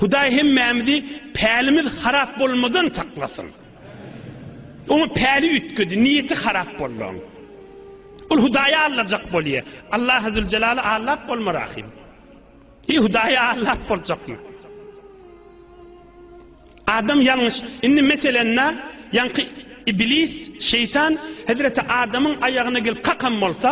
Hudaý hemmämizi pälimiz harap bolmadan saklasyn. Oňa päli üýtgedi, niýeti harap boldy oň. Ol Hudaýa allajak bolýa. Allah azül jelaly allap bolma rahim. Hi Hudaýa allap boljakmy? Adam ýalňyş. Indi meselende ýaňky iblis, şeýtan Hazreti Adamyň aýagyna gelip kakam bolsa,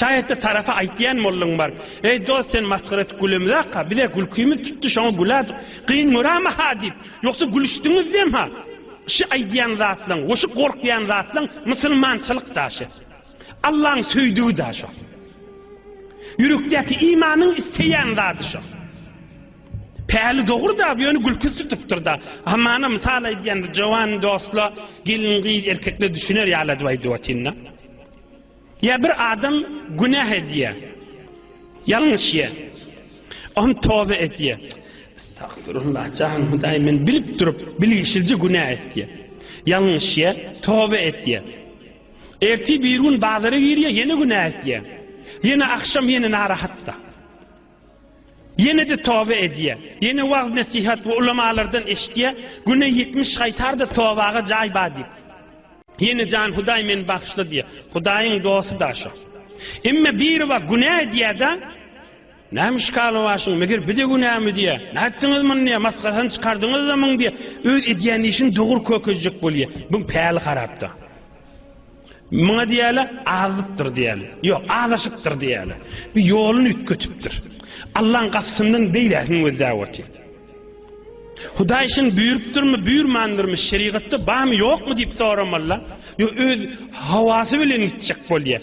Şaýatda tarapa aýtýan mollaň bar. Eý dost sen masgara et gülemzaka, bize gülkimiz tutdy şoňa gülädik. Gyn görama ha diýip, ýogsa gülüşdiňizdem ha. Şi aýdýan zatlaň we şu gorkýan zatlaň musulmançylyk da şi. Allaň söýdügi da şo. Ýürekdäki imanyň isleýän zady şo. Päli dogry da bu ýöne gülküs tutupdyr da. Hamana mysal aýdýan jowan dostla gelin gyz erkekle düşüner ýaly aýdyp aýdyp atynda. Ýa bir adam günäh edýär, ýalňyş ýer. Oňa toba edýär. Estagfirullah, jan Hudaý, men bilip durup, bilgişilje günäh etýär. Ýalňyş ýer, toba edýär. Ertir bir gün bazara girýär, ýene günäh edýär. Ýene agşam ýene narahatda. Ýene-de toba edýär. Ýene wagyz-nesihat we ulamalardan eşitýär, Güne ýetmiş gaýtar-da, tobaga jaý bar diýip. Ýene Jan Hudaý meni bagyşla diýýär. Hudaýyň dosty-da şo. Emma biri bar, günä edýär-de, Näme işgal başyň, meger bu-da günämi diýýär. Nätdiňiz muny diýýär, masgarasyny çykardyňyz-da muň diýýär. Öz edýän işini dogry kökezjek bolýar. Buň päli harap-da. Muňa diýeli azypdyr diýeli. Ýok, azaşypdyr diýeli. Bir ýoluny üýtgetipdir. Allaň gapysyndan beýläsini gözläp otyr. Hudaý şun buýrupdyrmy, buýrmandyrmy, şerigatda barmy, ýokmy diýip soramalla, ýo öz hawasy bilen gitjek bolýar.